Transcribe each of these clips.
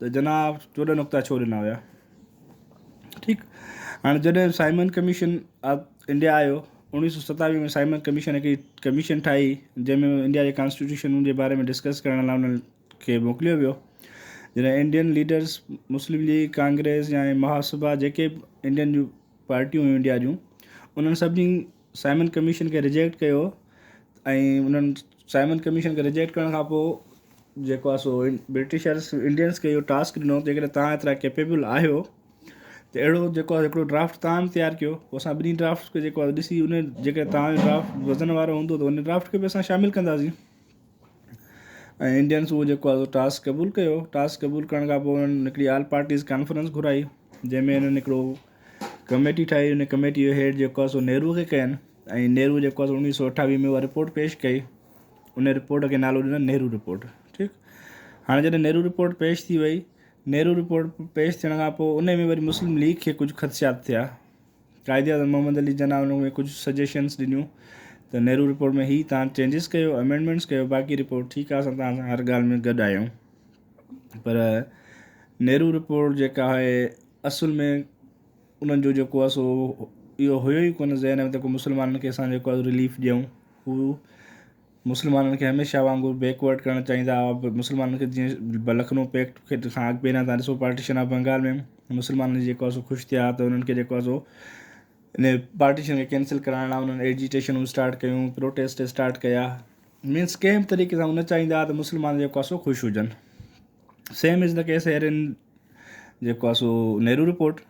ته جناب چوڏهن نقطا ڇو ڏنا ويا؟ ٺيڪ هاڻي جڏهن سائمن ڪميشن انڊيا آيو اوڻيهه سو ستاويهه ۾ سائمن ڪميشن هڪڙي ڪميشن ٺاهي جنهن ۾ انڊيا جي ڪانسٽيٽيوشن جي باري ۾ ڊسڪس ڪرڻ لاء انهن کي موڪليو ويو جڏهن Indian leaders Muslim League Congress يا مهاسڀا جيڪي به انڊين جون پارٽيون هيون انڊيا جون انهن سڀني سائمن ڪميشن کي رجيڪٽ ڪيو ۽ انهن سائمن ڪميشن کي رجيڪٽ ڪرڻ کان پوء جيڪو آهي سو برٽشرس انڊينس کي اهو ٽاسڪ ڏنو جي ڪڏهن تان ايترا ڪيپيبل آهيو ته اهڙو جيڪو آهي هڪڙو ڊرافٽ تان تيار ڪيو پوء اسان ٻنهي ڊرافٽس کي جيڪو آهي ڏسي ان جيڪي تان ڊرافٽ وزن وارو هوندو ته ان ڊرافٽ کي به اسان شامل ڪنداسين ۽ انڊينس اهو جيڪو آهي سو ٽاس قبول ڪيو ٽاس قبول ڪرڻ کان پوء انهن هڪڙي آل پارٽيز ڪانفرنس گهرائي جنهن ۾ انهن هڪڙو ڪميٽي ٺاهي ان ڪميٽي جو هيڊ جيڪو آهي سو نهرو کي ڪين ۽ نهرو جيڪو آهي سو اڻويهه سو اٺاويهه ۾ اها رپورٽ پيش ڪئي ان رپورٽ کي نالو ڏنو نهرو رپورٽ ٺيڪ هاڻي جڏهن نهرو رپورٽ پيش ٿي وئي نهرو رپورٽ پيش ٿيڻ کان پوء ان ۾ وري مسلم ليگ کي ڪجهه خدشات ٿيا قائداعظم محمد علي جناح ان ۾ ڪجهه سجيشنس ڏنيون ته نهرو رپورٽ ۾ هي تان چينجز ڪيو امينڊمينٽس ڪيو باقي رپورٽ ٺيڪ آهي اسان تان سان هر ڳالهه ۾ گڏ آهيون پر نهرو رپورٽ جيڪا آهي اصل ۾ انهن جو جيڪو آهي سو اهو هيو ئي ڪونه ذهن ۾ ته ڪو مسلمانن کي اسان جيڪو آهي رليف ڏيون هو مسلمانن کي هميشه وانگر بيڪ ورڊ ڪرڻ چاهيندا هئا مسلمانن کي جيئن لکنو پيڪٽ کي ڏسان اڳ پهريان تان ڏسو پارٽيشن آف بنگال ۾ مسلمانن جي جيڪو سو خوش ٿيا ته انهن کي جيڪو سو ان پارٽيشن کي ڪينسل ڪرائڻ لاء انهن ايجيٽيشنون اسٽارٽ ڪيون پروٽيسٽ اسٽارٽ ڪيا مينس ڪنهن به طريقي سان هو نه چاهيندا هئا ته مسلمان جيڪو سو خوش هجن same as the case here ان جيڪو سو نهرو رپورٽ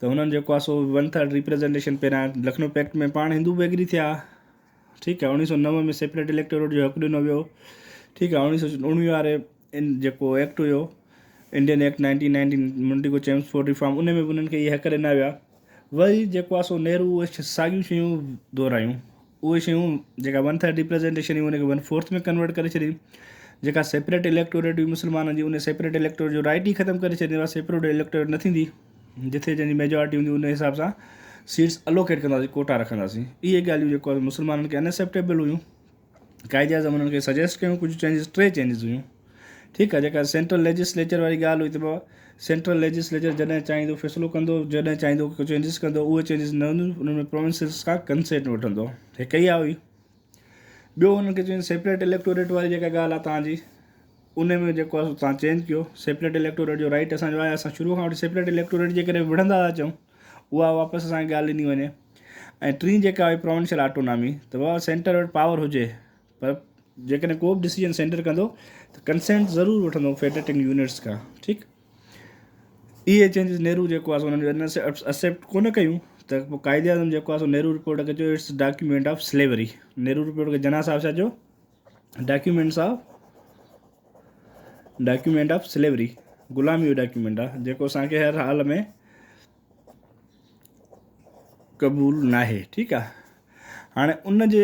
ته هنن جيڪو سو ون ٿرڊ ريپريزنٽيشن پهريان لکنؤ پيڪٽ ۾ پاڻ هندو به ايگري ٿيا ٺيڪ آهي اوڻيهه سؤ نو ۾ سيپريٽ اليڪٽوريٽ جو حق ڏنو ويو ٺيڪ آهي اوڻيهه سؤ اوڻيهه واري ان جيڪو ايڪٽ هيو Indian act nineteen nineteen Montagu Chelmsford reform ان ۾ انهن کي اهي حق ڏنا ويا وري جيڪو آهي سو نهرو اهي ساڳيون شيون دهرايون اهي شيون جيڪا ون ٿرڊ ريپريزنٽيشن هئي ان کي ون فورٿ ۾ ڪنورٽ ڪري ڇڏي جيڪا سيپريٽ اليڪٽوريٽ هئي مسلمانن جي ان سيپريٽ اليڪٽوريٽ جو رائٽ ئي ختم ڪري ڇڏي سيپريٽ اليڪٽوريٽ نه ٿيندي جتي جنهن جي ميجارٽي هوندي ان حساب سان سيٽس الوڪيٽ ڪنداسين ڪوٽا رکنداسين اهي ڳالهيون جيڪو آهي مسلمانن کي انيسيپٽيبل هيون قائد اعظم انهن کي سجيسٽ ڪيون ڪجهه چينجز ٽي چينجز هيون ٺيڪ آهي جيڪا سينٽرل ليجسليچر واري ڳالهه هئي ته بابا سينٽرل ليجسليچر جڏهن چاهيندو فيصلو ڪندو جڏهن چاهيندو ڪجهه چينجز ڪندو اهي چينجز نه هونديون انهن ۾ پروونسز کان ڪنسينٽ وٺندو هڪ اها هئي ٻيو انهن کي چين سيپريٽ اليڪٽوريٽ واري جيڪا ڳالهه آهي تهان جي ان ۾ جيڪو آهي تهان چينج ڪيو سيپريٽ اليڪٽوريٽ جو رائيٽ اسان جو آهي اسان شروع کان وٺي سيپريٽ اليڪٽوريٽ جي ڪري وڙهندا ٿا اچون اها واپس اسان کي ڳالهه ڏني وڃي ۽ ٽين جيڪا آهي پروونشل آٽونامي ته بابا سينٽر وٽ پاور هجي پر جيڪڏهن ڪو به ڊسيزن سينٽر ڪندو ته ڪنسينٽ ضرور وٺندو فيڊريٽنگ يونٽس کان ٺيڪ اهي چينجز نهرو جيڪو آهي سو انهن ان سي اسيپٽ ڪونه ڪيون ته پوء قائد اعظم جيڪو آهي سو نهرو رپورٽ کي چيو it's document of slavery Nehru report کي جناح صاحب ڇا چيو documents of document of slavery غلامي جو ڊاڪيومينٽ آهي جيڪو اسانکي هر حال ۾ قبول ناهي ٺيڪ آهي هاڻي ان جي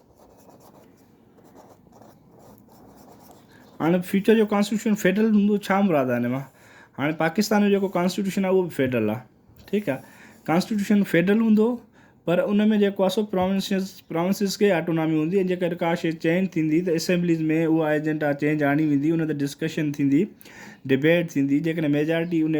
هاڻي فيوچر جو ڪانسٽيٽيوشن فيڊرل هوندو ڇا مراد آهي هن مان هاڻي پاڪستان جو جيڪو ڪانسٽيٽيوشن آهي اهو به فيڊرل آهي ٺيڪ آهي ڪانسٽيٽيوشن فيڊرل هوندو پر ان ۾ جيڪو آسو پراونسيز پراونسيز کي آٽونامي هوندي ۽ جيڪڏهن ڪا شيء چينج ٿيندي ته اسيمبليز ۾ اها ايجنڊا چينج آڻي ويندي ان تي ڊسڪشن ٿيندي ڊبيٽ ٿيندي جيڪڏهن ميجارٽي ان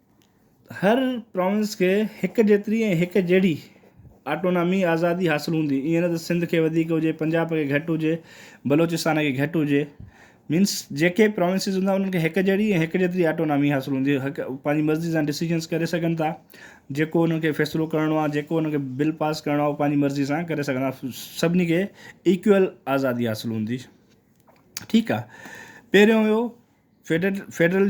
هر پراونس کي هڪ جيتري ۽ هڪ جهڙي آٽونامي، آزادي، حاصل هوندي، ائين نه ته سنڌ کي وڌيڪ هجي، پنجاب کي گهٽ هجي، بلوچستان کي گهٽ هجي. مينس جيڪي پراونسز هوندا انهن کي هڪ جهڙي ۽ هڪ جيتري آٽونامي حاصل هوندي، پنهنجي مرضي سان ڊسيزنس ڪري سگهن ٿا، جيڪو انهن کي فيصلو ڪرڻو آهي، جيڪو انهن کي بل پاس ڪرڻو آهي اهو پنهنجي مرضي سان ڪري سگهندا، سڀني کي ايڪوئل آزادي حاصل هوندي. ٺيڪ آهي پهريون هيو federal federal.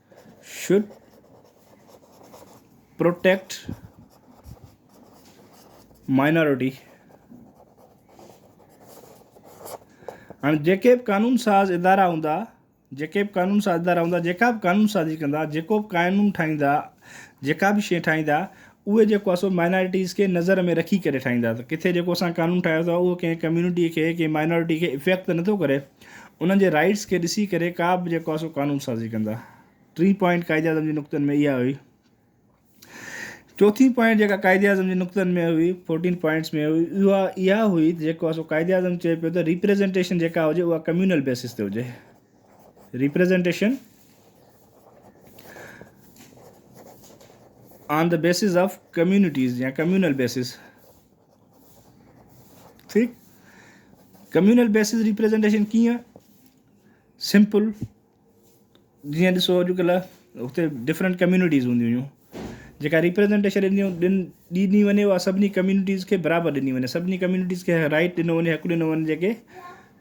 should protect minority هاڻي جيڪي به قانون ساز ادارا هوندا جيڪي به قانون ساز ادارا هوندا جيڪا به قانون سازي ڪندا جيڪو به قانون ٺاهيندا جيڪا به شيء ٺاهيندا اهي جيڪو آهي سو مائنارٽيز کي نظر ۾ رکي ڪري ٺاهين ٿا ته ڪٿي جيڪو اسان قانون ٺاهيو اٿو اهو ڪنهن ڪميونٽي کي ڪنهن مائنارٽي کي افيڪٽ ته نٿو ڪري انهن جي رائيٽس کي ڏسي ڪري ڪا به جيڪو آهي سو قانون سازي ڪندا ٽين پوائنٽ قائد اعظم جي نقطن ۾ اها هئي چوٿين پوائنٽ جيڪا قائد اعظم جي نقطن ۾ هئي فورٽين پوائنٽس ۾ هئي اها اها هئي جيڪو اسو قائد اعظم چئي پيو ته ريپريزنٽيشن جيڪا هجي اها ڪميونل بيسس تي هجي Representation on the basis of communities يا ڪميونل بيسز ٺيڪ ڪميونل بيسز ريپريزنٽيشن ڪيئن سمپل جيئن ڏسو اڄڪلھ اتي ڊفرنٹ ڪميونٽيز هونديون هيون جيڪا ريپريزنٹيشن ڏنيون ڏني وڃي اها سڀني ڪميونٽيز کي برابر ڏني وڃي سڀني ڪميونٽيز کي رائيٽ ڏنو وڃي حق ڏنو وڃي جيڪي